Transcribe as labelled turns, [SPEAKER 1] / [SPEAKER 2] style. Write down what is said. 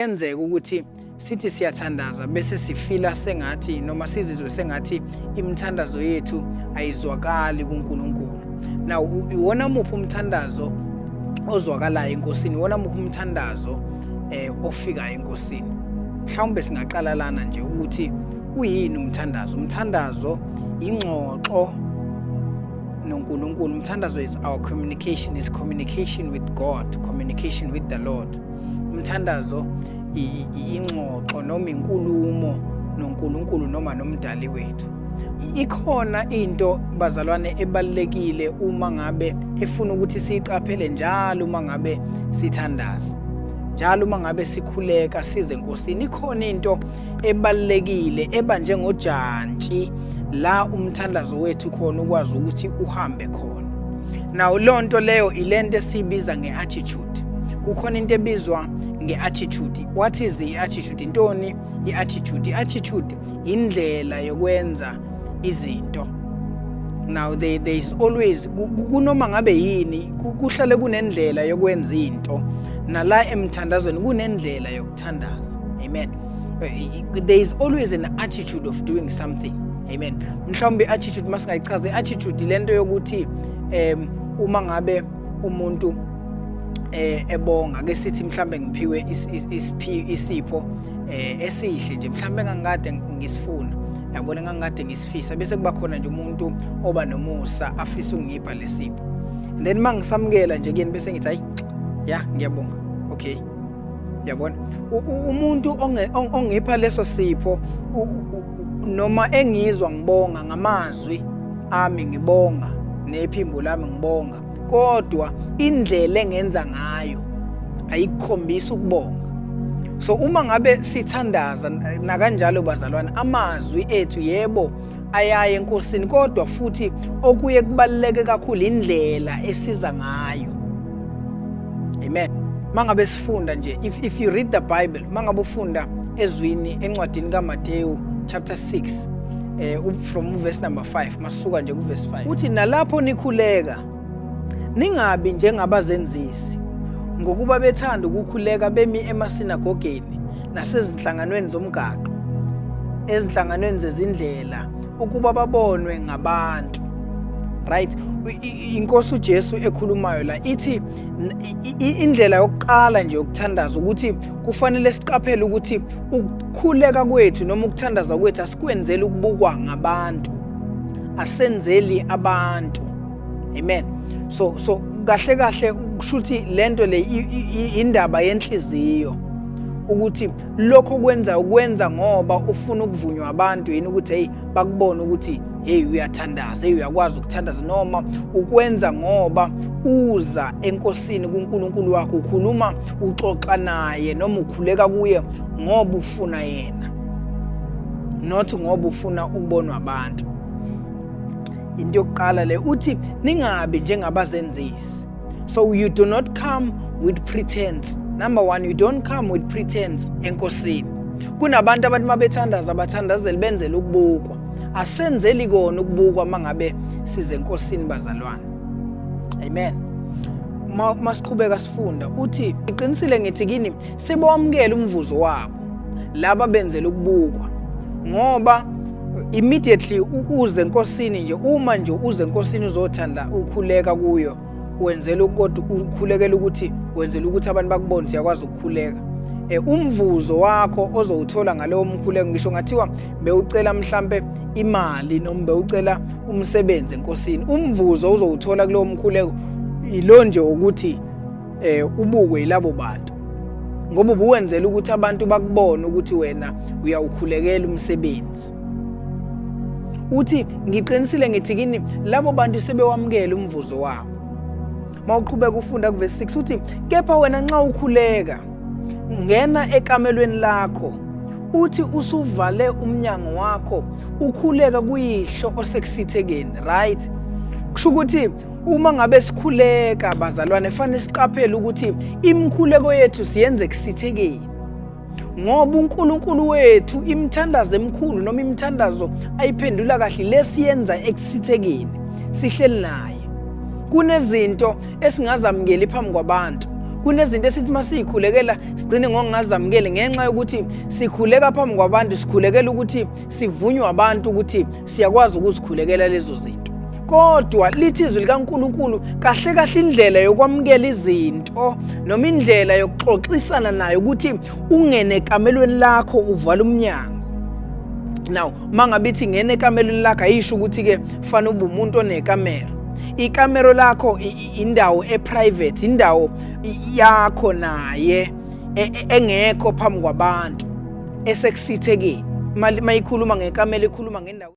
[SPEAKER 1] Kuyenzeka ukuthi sithi siyathandaza bese sifila sengathi noma sizizwe sengathi imithandazo yethu ayizwakali kuNkulunkulu. Now iwona muphi umthandazo ozwakalayo enkosini? Iwona muphi umthandazo eh ofikayo enkosini? Mhlawumbe singaqala lana nje ukuthi uyini umthandazo? Umthandazo ingxoxo noNkulunkulu. Umthandazo is our communication, is communication with God, communication with the Lord. umthandazo ingxoxo noma inkulumo noNkulunkulu noma nomdali wethu ikhona into bazalwane ebalekile uma ngabe efuna ukuthi siqaphele njalo uma ngabe sithandaza njalo uma ngabe sikhuleka size enkosini ikhona into ebalekile eba njengojantshi la umthandazo wethu khona ukwazi ukuthi uhambe khona nawo lonto leyo ilento esibiza ngeattitude attitude kukhona into ebizwa nge-attitude what is i-attitude intoni i-attitude i-attitude indlela yokwenza izinto now there, there is always kunoma ngabe yini kuhlale kunendlela yokwenza into nala emthandazweni kunendlela yokuthandaza amen eh, there is always an attitude of doing something amen mhlawumbe i-attitude masingayichaza i-attitude lento yokuthi um uma ngabe umuntu eh ebonga ke sithi mhlambe ngiphiwe isipho eh esihle nje mhlambe ngangikade ngisifuna yabona ngangikade ngisifisa bese kuba khona nje umuntu oba nomusa afisa ungipha lesipho then mangisamukela nje kuyena bese ngithi hayi ya ngiyabonga okay yabona umuntu ongipha leso sipho noma engizwa ngibonga ngamazwi ami ngibonga nephimbo lami ngibonga kodwa indlela engenza ngayo ayikhombisa ukubonga so uma ngabe sithandaza nakanjalo bazalwane amazwi ethu yebo ayaye enkosini kodwa futhi okuye kubaluleke kakhulu indlela esiza ngayo amen mangabe sifunda nje if, if you read the bible mangabe ufunda ezwini encwadini kaMateyu chapter 6 eh from verse number 5 masuka nje ku verse 5 uthi nalapho nikhuleka Ningabi njengabazenzisi ngokuba bethanda ukukhuleka bemi emasinagogeni nasezinhlanganweni zomgaqo ezinhlanganweni zezindlela ukuba babonwe ngabantu right inkosi uJesu ekhulumayo la ithi indlela yokuqala nje ukuthandaza ukuthi kufanele siqaphele ukuthi ukukhuleka kwethu noma ukuthandaza kwethu asikwenzeli ukubukwa ngabantu asenzeli abantu amen so so kahle kahle kushuthi lento le indaba yenhliziyo ukuthi lokho kwenza ukwenza ngoba ufuna ukuvunywa abantu yini ukuthi hey bakubone ukuthi hey uyathandaza hey uyakwazi ukuthandaza noma ukwenza ngoba uza enkosini kuNkulunkulu wakho ukhuluma uxoxa naye noma ukhuleka kuye ngoba ufuna yena not ngoba ufuna ukubonwa abantu into yokuqala le uthi ningabi njengabazenzisi so you do not come with pretense number one you don't come with pretense enkosini kunabantu abantu uma bethandaza bathandazele benzele ukubukwa asenzeli kona ukubukwa uma ngabe size enkosini bazalwane amen masiqhubeka sifunda uthi iqinisile ngithi kini Sibomkela umvuzo wabo laba benzela ukubukwa ngoba immediately uze enkosini nje uma nje uze enkosini uzothanda ukhuleka kuyo wenzela kodwa ukhulekela ukuthi wenzela ukuthi abantu bakubone siyakwazi ukukhuleka eh, umvuzo wakho ozowuthola ngalewo mkhuleko ngisho ngathiwa bewucela mhlambe imali noma bewucela umsebenzi enkosini umvuzo uzowuthola kulowo mkhuleko yilo nje ukuthi eh ubukwe yilabo bantu ngoba ubuwenzela ukuthi abantu bakubone ukuthi wena uyawukhulekela umsebenzi uthi ngiqinisile ngithi kini labo bantu sebewamukela umvuzo wabo mawuqhubeka ufunda kuvesi 6 uthi kepha wena nxa ukhuleka ngena ekamelweni lakho uthi usuvale umnyango wakho ukhuleka kuyihlo osekusithekeni right kusho ukuthi Uma ngabe sikhuleka bazalwane fanele siqaphele ukuthi imikhuleko yethu siyenze kusithekeni. Ngoba uNkulunkulu wethu imithandazo emikhulu noma imithandazo ayiphendula kahle lesiyenza ekusithekeni sihleli naye. Kunezinto esingazamukeli phambi kwabantu. Kunezinto esithi masiyikhulekela sigcine ngokungazamukeli ngenxa yokuthi sikhuleka phambi kwabantu sikhulekela ukuthi sivunywe abantu ukuthi siyakwazi ukuzikhulekela lezo zinto kodwa lithi izwi likaNkuluNkulu kahle kahle indlela yokwamukela izinto noma indlela yokuxoxisana nayo ukuthi ungene ekamelweni lakho uvala umnyango now mangabe ithi ngene ekamelweni lakho ayisho ukuthi ke fanele ube umuntu onekamera ikamero lakho indawo eprivate indawo yakho naye e, e, engekho phambi kwabantu esekusithekeni mayikhuluma ngekamela ekhuluma ngendawo